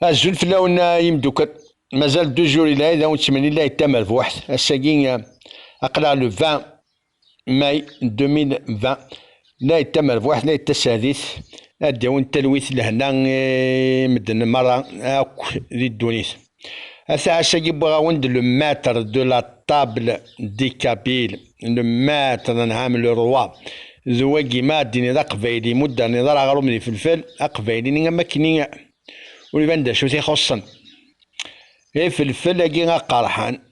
Azul fell-awen a imeddukkal. Mazal deux jours ila id awen ttmen ila id tamerbuḥt. Ass-agi aql-aɣ le 20 mai 2020. La id tamerbuḥt, la id tasertit. Ad d-awin talwit lehna i medden merra akk di ddunit. Ataɛc-agi wwiɣ-awen-d le maître de la table di kabyle, le maître d anɛam le roi, d wagi ma ad d-tiniḍ aqbayli i mudder n iḍar aɣrum d ifelfel, aqbayli-nni am wakken i ur iban d acu-t ixuṣṣen. Ifelfel-agi aqerḥan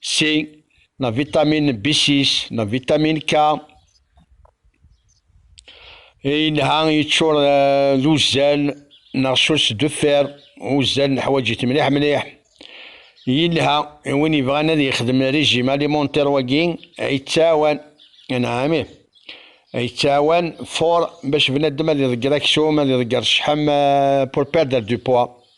C na vitamin B6 na vitamin K yelha yeččur eh, d uzzal neɣ sus d uffer uzzal neḥwaǧ-it mliḥ mliḥ yelha i win yebɣan ad yexdem régime alimentaire wagi yettɛawan anɛami yettɛawan for bac bnadem ad iḍegger aksum ad iḍegger ccḥam eh, pour perdre du poids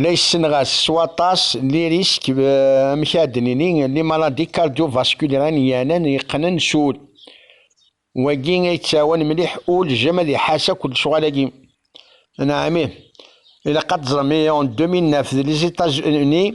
la yessenɣas s waṭas n lirisk amek ad d-nini n limaladi kardyuvaskuliran yanen yeqqnen s ul. Wagi a yettawen mliḥ ul jem ad iḥas akk lecɣal-agi. Neɛmi, ilaq ad teẓrem, en 2009 d les Etats-Unis,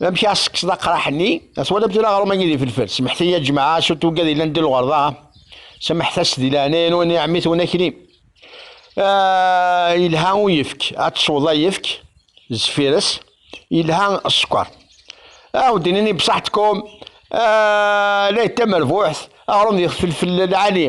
Amek i ɣ-sekseḍ aqraḥ-nni? Twalamt tura aɣrum agi di felfel. Semḥet-iyi a jmaɛa, s uttugga di llan di lɣerḍa. Semḥet-as di leɛnaya-nwen i ɛemmi-twen akli. Yelha uyefk, ad tesweḍ ayefk zeffir-s, yelha sskeṛ. Aw d-nini bṣaḥ tkum la yettamerbuḥet aɣrum di felfel lɛali.